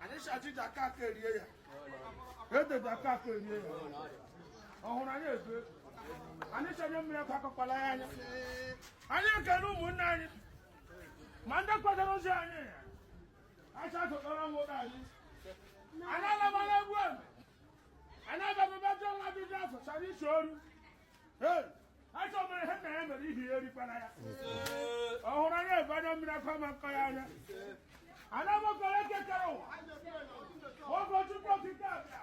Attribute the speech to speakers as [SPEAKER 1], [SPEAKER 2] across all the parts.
[SPEAKER 1] anyị sị ji kaa aka erie ya ede kaa aka erie ya ọ hụrụ anyị ebe anyị sị anya mmiri akwa akọkwala ya anya anyị ekele ụmụnne anyị ma ndị kwadoro ozi anyị ọ hụrụ anyị ebe anya mmiri akwa ama akọ ya anya ana m akpọku eke kere ụwa ọ bụ chukwu okike abịa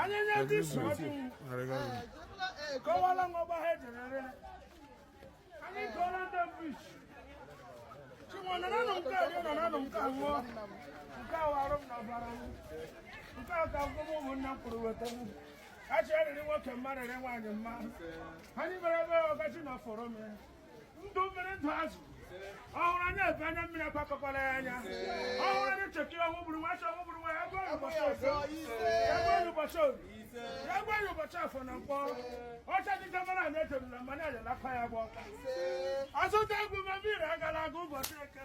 [SPEAKER 1] anyị nye ndị isi ọdụ kọwara ngọgba ha ejerere anyị gụọla ndị mbụ isi chinwe naranụ nke a rie naranụ nke a ṅụọ nke a wụ arụ m n'ọbara m nke a ka akwụkwọ m ụmụnna m kwuru weta m ka chi rịrị nwoke mma rịrị nwaanyị mma anyị mere ebe ọkachi na fọrọ m ya ndụ mmiri ndụ azụ ọ hụrụ anyị ebe anya mmiri akwa akọkwala ya anya ọ hụrụ anyị chekiri ọnwụ gburu nwa chi ọnwụ gburu nwa ya gwa ya ụbọchị ọzọ ya gwa ya ụbọchị orie ya gwa ya ụbọchị afọ na nkwọ ọcha dịka mara anyị ejebula mgbe anyị ajalakwa ya gba ọka azụta egwu ma mmiri agala aga ụbọchị eke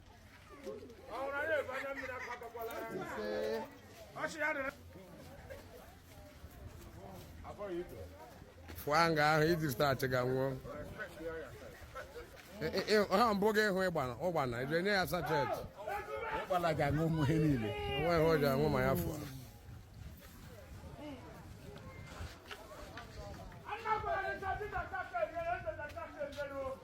[SPEAKER 1] fụọ nga ahụ iji zụta achịga nwụọ Ị- ị- ị- ha mbụ gị ịhụ ịgbana ụgbana ije nye ya sachet ụkpala ga-aṅụ ụmụ ihe niile o nwe ihe o ji aṅụ ma ya fụọ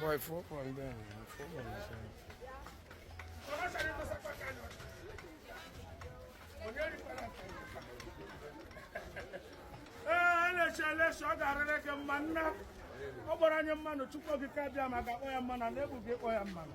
[SPEAKER 1] Boy, four point down. Four point down. ee na-eche eleshi ọ ga-arịrị gị mma nna ọ gbara anyị mmanụ chukwu okike abịama ga-akpọ ya mmanụ na ebu gị kpọ ya mmanụ